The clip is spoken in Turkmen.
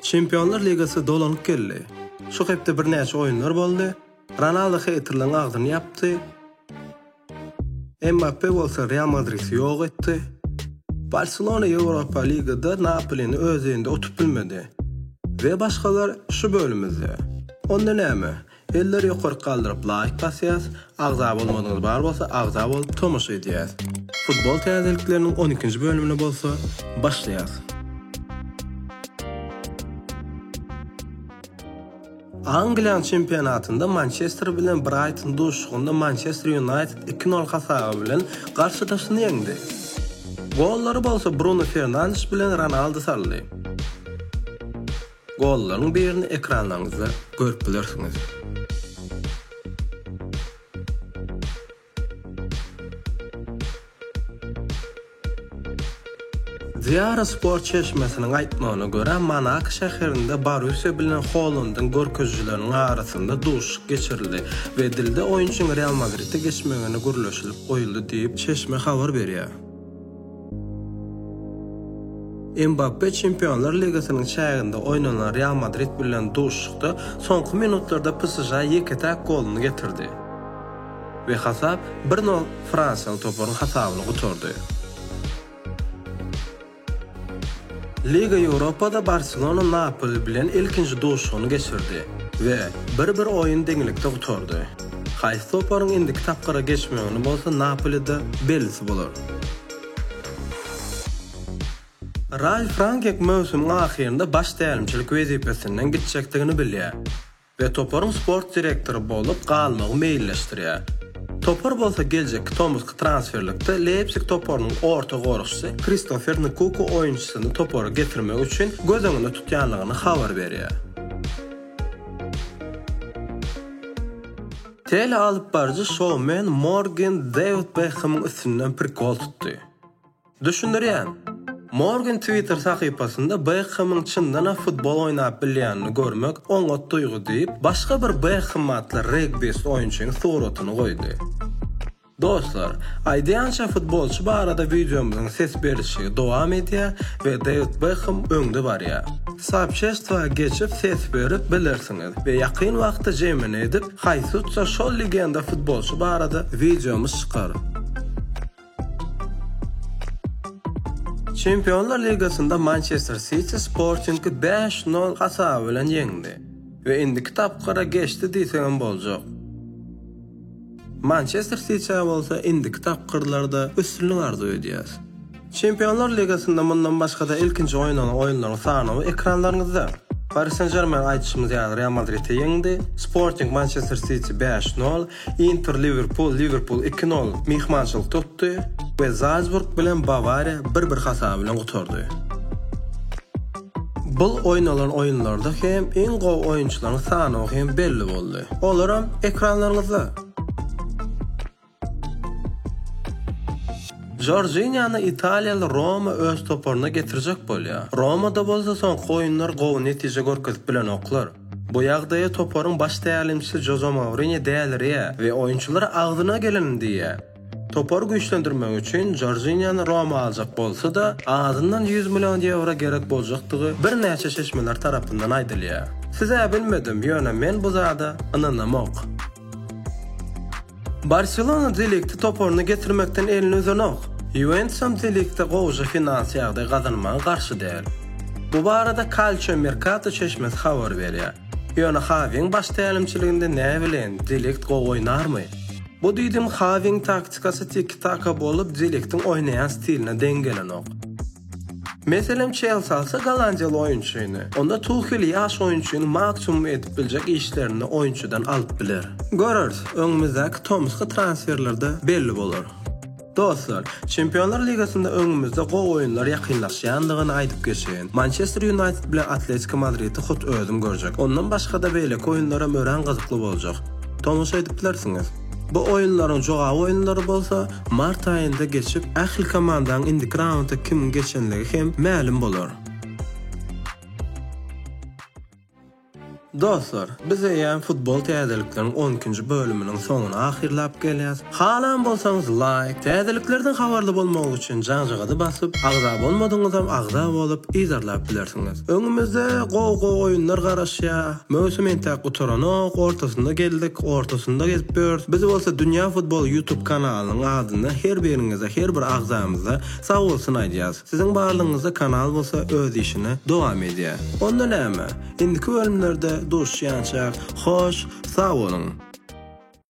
Çempionlar ligasy dolanyp geldi. Şu hepde birnäçe oýunlar boldy. Ronaldo heýterleriň agzyny ýapdy. Mbappe bolsa Real Madridi ýok etdi. Barselona Ýewropa Ligada Napolini öz öýünde utup bilmedi. We başgalar şu bölümizde. Onda näme? Elleri ýokark galdyryp laýk basýas, agza bolmadyňyz bar bolsa agza bolup tomaşa edýäs. Futbol täzelikleriniň on ikinji bölümine bolsa başlaýas. Angliýanyň çempionatynda Mançester bilen Braýton duşuşygynda Mançester Ýunaýted iki nol hasaby bilen garşydaşyny ýeňdi. Gollary bolsa Bruno Fernandes bilen Ronaldu saldy. Gollaryň birini ekranlaryňyzda görüp bilersiňiz. Diara Sport çeşmesiniň aýtmagyna görä, Monako şäherinde Borussiýa bilen Holandyň görkezijileriniň arasynda duşuşyk geçirildi we dilde oýunçyň Real Madride geçmegine gürleşilip goýuldy diýip, çeşme habar berýär. Mbappe Çempionlar ligasynyň çäginde oýnanan Real Madrid bilen duşuşykda soňky minutlarda PSŽ-a ýeke-täk goluny getirdi we hasap bir nol fransiýaly toparyň hasabyna gutardy. Liga Ýewropada Barselona Napoli bilen ilkinji duşuşygyny geçirdi we bir-bir oýun deňlikde gutardy. Haýsy toparyň indiki tapgyra geçmegini bolsa Napolide bellisi bolar. Ralf Rangek möwsümiň ahyrynda baş tälimçilik wezipesinden gitjekdigini bilýär we toparyň sport direktory bolup galmagy meýilleşdirýär. Topar bolsa geljekki tomusky transferlikde Leýpsig toparynyň orta goragçysy Kristofer Nkuku oýunçysyny topara getirmek üçin göz öňünde tutýandygyny habar berýär. Telealypbaryjy şoumen Morgan Dewid Bekhemiň üstünden prikol tutdy. Düşündirýän, Morgan Twitter sahypasynda Bekhemiň çyndanam futbol oýnap bilýänini görmek oňat duýgy diýip, başga bir Bekhem atly regbist oýunçynyň suratyny goýdy. Dostlar, aýdýança futbolçy barada wideomyzyň ses berişigi dowam edýär we Dewid Bekhem öňde barýar. Soobşestwa geçip ses berip bilersiňiz we ýakyn wagtda jemini edip haýsutsa şol legenda futbolçy barada wideomyz çykar. Çempionlar ligasynda Mançester Siti Sportingi bäş nol hasaby bilen ýeňdi we indiki tapgyra geçdi diýsegem boljak. Mançester Sitiä bolsa indiki tapgyrlarda üstünlik arzuw edýäs. Çempionlar ligasynda mundan başga-da ilkinji oýnalan oýunlaryň sanawy ekranlaryňyzda. Pari Sen-Žermen aýdyşymyz ýaly Real Madridi ýeňdi, Sporting Mançester Siti bäş nol, Inter Liwerpul, Liwerpul iki nol myhmançylyk tutdy we Zalsburg bilen Bawariýa bir-bir hasap bilen gutardy. Bul oýnalan oýunlarda hem iň gowy oýunçylaryň sanawy hem belli boldy. Olaram ekranlaryňyzda. Jorjiniany italiýaly Roma öz toparyna getirjek bolýar. Romada bolsa soňky oýunlar gowy netije görkezip bilenoklar. Bu ýagdaýa toparyň baş tälimçisi Joze Mourinýo dälirýär we oýunçylara agzyna gelenini diýýär. Topary güýçlendirmek üçin Jorjiniýany Roma aljak bolsa-da, azyndan ýüz million ýewro gerek boljakdygy birnäçe çeşmeler tarapyndan aýdylýar. Siz-ä bilmedim, ýöne men bu zada ynanamok. Barselona De Ligti toparyna getirmekden elini üzenok. Ýuwentusam De Ligtde gowja finansiýa ýagdaý gazanmaga garşy däl. Bu barada Calcio Mercato çeşmesi habar berýär. Ýöne Hawiň baş tälimçiliginde näbileýin, De Ligt gowy oýnarmy? Bu düýdüň Xawiň taktikasy tiki-taka bolup, Deliktiň oýnaýan stiline deň gelenok. Meselem, Çelsi alsa gollandiýaly oýunçyny, onda Tuhel ýaş oýunçyny maksimum edip biljek işlerini oýunçydan alyp biler. Göreris, öňümizdäki tomusky transferlerde belli bolar. Dostlar, Çempionlar ligasynda öňümizde gowy oýunlar ýakynlaşýandygyny aýdyp geçeýin. Mançester Ýunaýted bilen Atletiko Madridi hut özüm görjek. Ondan başga-da beýleki oýunlaram örän gyzykly boljak. Tomaşa edip bilersiňiz. Bu oýunlaryň jogap oýunlary bolsa mart aýynda geçip, ähli komandaň indiki raunda kimiň geçenligi hem mälim bolar. Dostlar, biz eýýäm futbol täzelikleriň on ikinji bölüminiň soňuny ahyrlap gelýäs. Halan bolsaňyz laýk, täzeliklerden habarly bolmak üçin jaňjagazy basyp, agza bolmadyňyzam agza bolup, yzarlap bilersiňiz. Öňümizde gowy-gowy oýunlar garaşýar. Möwsüm entäk gutaranok, ortasyna geldik, ortasynda gezip ýörüs. Biz bolsa Dünýä futboly ýutub kanalynyň adyndan her biriňize, her bir agzamyza sagbolsun aýdýas. Siziň barlygyňyzda kanal bolsa öz işini dowam edýä. Onda näme? Indiki bölümlerde duşýançak, hoş sag boluň!